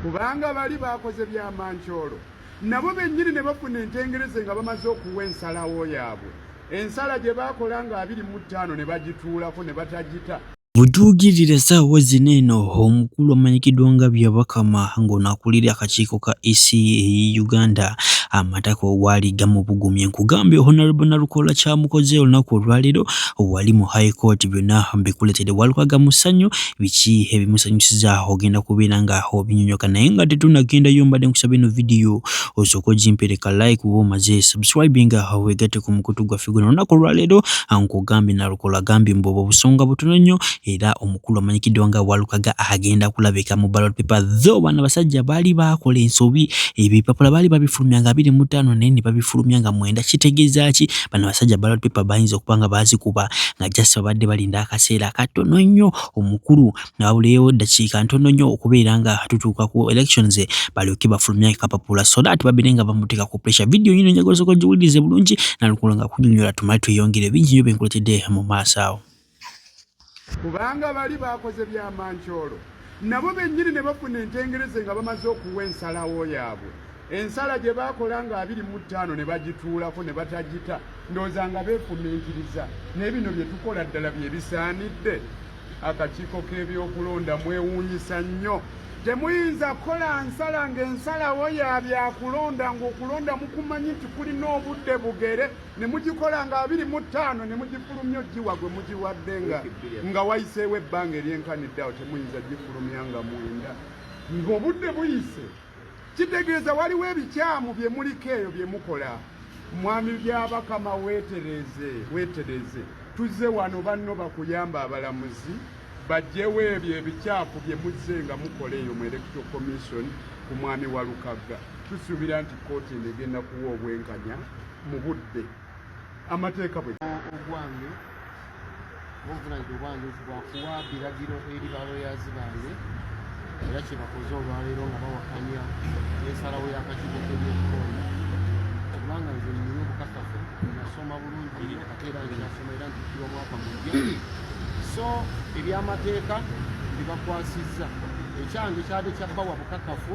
Kubanga bali baakoze bya mancoolo nabo bennyini ne bafuna entengereze nga bamaze okuwa ensalawo yaabwe ensala gye baakola nga abiri mu ttaano ne bagituulako ne batagita Bujuukirira essaawa zino eno omukulu amanyikiddwa nga Byabakama ng'ono akulira akakiiko ka EC e Uganda amatako waali gamubugumye nkugambye Honorable Nalukola kyamukoze olunaku olwaleero wali mu High Court byonna mbikuletedde Walukaga Musanyu biki ebimusanyusiza ogenda kubeera nga obinyonyoka naye nga tetunagendayo mbadde nkusaba eno vidiyo osooka ogimpereka like uba omaze subscribinga wegatte ku mukutu gwaffe guno olunaku olwaleero nkugambye nalukola gambye mbu obwo busonga butono nnyo era omukulu amanyikiddwa nga walukaga agenda kulabika mu ballot paper tho bano abasajja baali baakola ensobi ebipapula baali babifulumya nga biri mu ttaano naye ne babifulumya nga mwenda kitegeeza ki bano abasajja ballot paper bayinza okuba nga baazikuba nga just babadde balinda kaseera katono nnyo omukulu nabuleewo ddakiika ntono nnyo okubeera nga tutuuka ku elections balyoke bafulumye kapapula so that babeere nga bamuteeka ku pressure video yino njagala osooka ogiwulirize bulungi nalukolo nga kunyonyola tumale tweyongere bingi nyo byenkuletedde mu maaso awo kubanga bali bakoze byamancoolo nabo bennyini ne bafuna entengereze nga bamaze okuwa ensalawo yaabwe Ensala gye baakola nga abiri mu ttaano ne bagituulako ne batagita ndowooza nga beefumiitiriza naye bino bye tukola ddala bye bisaanidde akakiiko k'ebyokulonda mwewuunyisa nnyo temuyinza kukola nsala ng'ensalawo ya byakulonda ng'okulonda mukumanyi nti kulina obudde bugere ne mugikola nga abiri mu ttaano ne mugifulumya ogiwa gwe mugiwadde nga nga wayiseewo ebbanga eryenkanidde awo temuyinza gifulumya nga mwenda ng'obudde buyise Kitegeeza waliwo ebikyamu bye muliko eyo bye mukola. Mwami Byabakama weetereeze, weetereeze. Tuzze wano banno bakuyamba abalamuzi bajjewo ebyo ebikyafu bye muzze nga mukola eyo mu Electoral Commission ku mwami Walukagga. Tusuubira nti kkooti eno egenda kuwa obwenkanya mu budde. amateeka bwe ogwange obuvunanyizibwa obwange bwakuwa biragiro eri baloyazi bange era kyebakoze olwaleero nga bawakanya ensalawo y'akakiiko k'ebyokukoona kubanga nze nyina obukakafu nasoma bulungi nyo ate era nginasoma era ntikirwa mwaka mujja so ebyamateeka bibakwasizza ekyange kyade kyabbawa bukakafu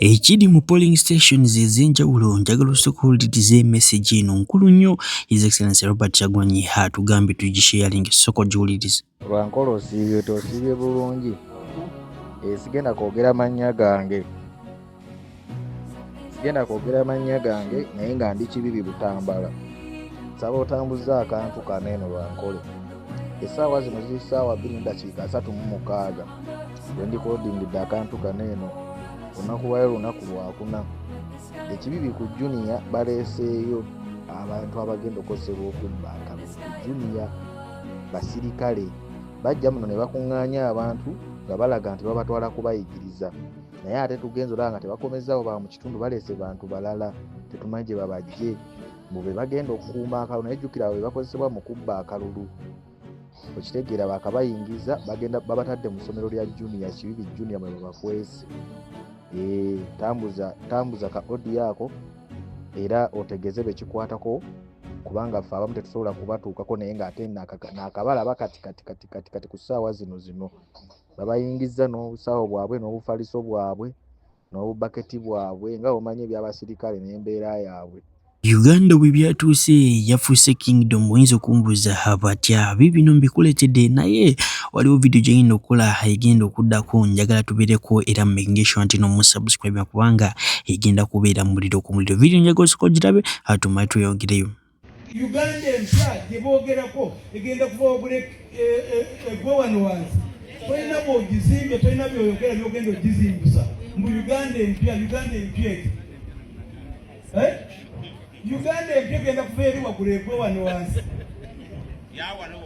Ekiri mu polling stations ez'enjawulo njagala osooka owulirize emessage eno nkulu nnyo His Excellency Robert Kyagulanyi atugambye tugisheyalinge sooka ogiwulirize. Lwankolo osiibye tosiibye bulungi esigenda kwogera mannya gange sigenda kwogera mannya gange naye nga ndi kibibi butambala nsaba otambuza akantu kano eno lwankolo essaawa zino ziri ssaawa bbiri mu dakiika asatu mu mukaaga bendikodingidde akantu kano eno olunaku lwayo lunaku lwakuna ekibi bi ku juniya baleeseeyo abantu abagenda okukozesebwa okubba akalulu ku juniya basirikale bajja muno ne bakuŋŋaanya abantu nga balaga nti babatwala kubayigiriza naye ate tugenza olaba nga tebakomezaawo ba mu kitundu baleese bantu balala tetumanyi gye babajje mbu be bagenda okukuuma akalulu naye jjukira abo be bakozesebwa mu kubba akalulu okitegeera bakabayingiza bagenda babatadde mu ssomero lya junia kibibi junia mwe babakwezi eh, tambuza tambuza ka odi ako era otegeze bekikwatako kubanga ffe abamu tetusobola kubatuukako naye ngaate nakabala bakatikatikatikatikati ku ssaawa zino zino babayingiza n'obusawo bwabwe n'obufaliso bwabwe n'obubaketi bwabwe nga bwomanyi eby'abasirikale n'embeera yaabwe uganda bwe byatuuse yafuuse kingdom oyinza okumbuuza abatya biibino mbikuletedde naye waliwo vidiyo gyegenda okukola egenda okuddako njagala tubeereko era mumekingesho nti nomusubscribe kubanga egenda kubeera muliro ku muliro vidiyo njagala osooka ogirabe atumale tweyongereyo Uganda empya gye boogerako egenda kuva wagula eggwe e, e, e, wano wansi tolina bwogizimbe tolina byoyogera byogenda ogizimbusa mbu uganda empya uganda empya eti eh? uganda empya egenda kuva eri wagula eggwe wano wansi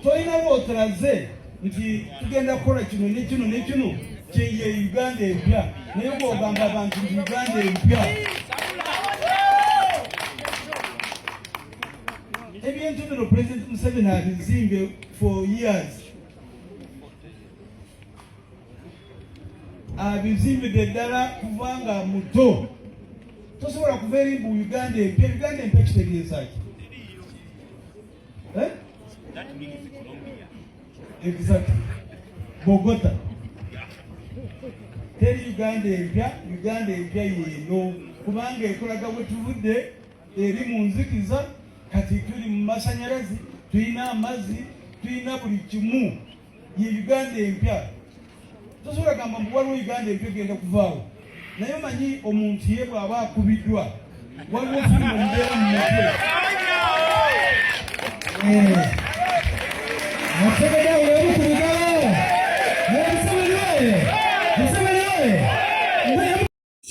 tolina bwotulaze nti tugenda kukola kino ne kino ne kino kyeye Uganda empya naye bwogamba abantu nti Uganda empya ebintu bino President Museveni abizimbe for years abizimbidde ddala kuva nga muto tosobola kuva eri mbu Uganda empya Uganda empya kitegeeza ki Eh? That means Colombia. Exactly. Bogota. Tell Uganda empya, Uganda empya yeno kubanga ekolaga wetuvudde eri mu nzikiza kati tuli mu masanyalazi tulina amazzi tulina buli kimu ye Uganda empya. Tosobola gamba mbu waliwo Uganda empya egenda kuvaawo, naye omanyi omuntu ye bw'aba akubiddwa waliwo firimu omubeera mu mutwe Museveni awo yali ku bigalo. Museveni oye! Museveni oye!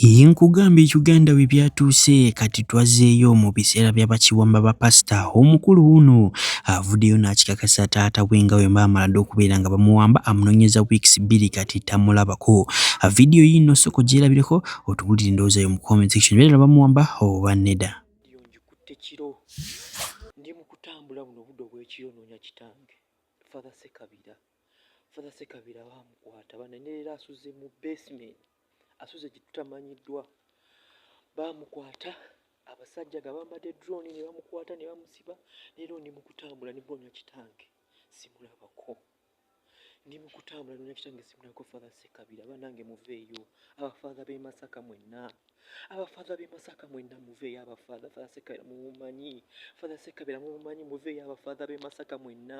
Yii nkugambye Uganda we byatuuse kati twazeeyo mu biseera bya bakiwamba ba pasita omukulu wuno avudeyo n'akikakasa taata we nga wemba amaladde okubeera nga bamuwamba amunonyeza weeks bbiri kati tamulabako vidiyo yiino soko gyerabireko otubulire ndowooza yo mu comment section beera bamuwamba oba neda ndi mukutambula buno budde obwekiro noonya kitange father sekabira father sekabira bamukwata banenelera asuze mu basement asuze gyetutamanyiddwa bamukwata abasajja nga bambadde drone ne bamukwata ne bamusiba leero ndi mukutambula ne bonya kitange simulabako ndi mukutambula nonya kitange simulabako father sekabira banange muveeyo abafatha b'e masaka mwenna abafatha b'e masaka mwenna muveeyo abafatha father sekabira mumumanyi father sekabira mumumanyi muveeyo abafatha b'e masaka mwenna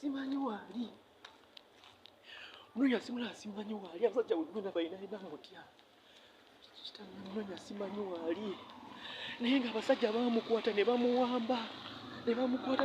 simanyi waali nonya simula simanyi waali abasajja wegwena bayinaina mutya kitanonya simanyi waali naye nga abasajja bamukwata ne bamuwamba ne bamukwata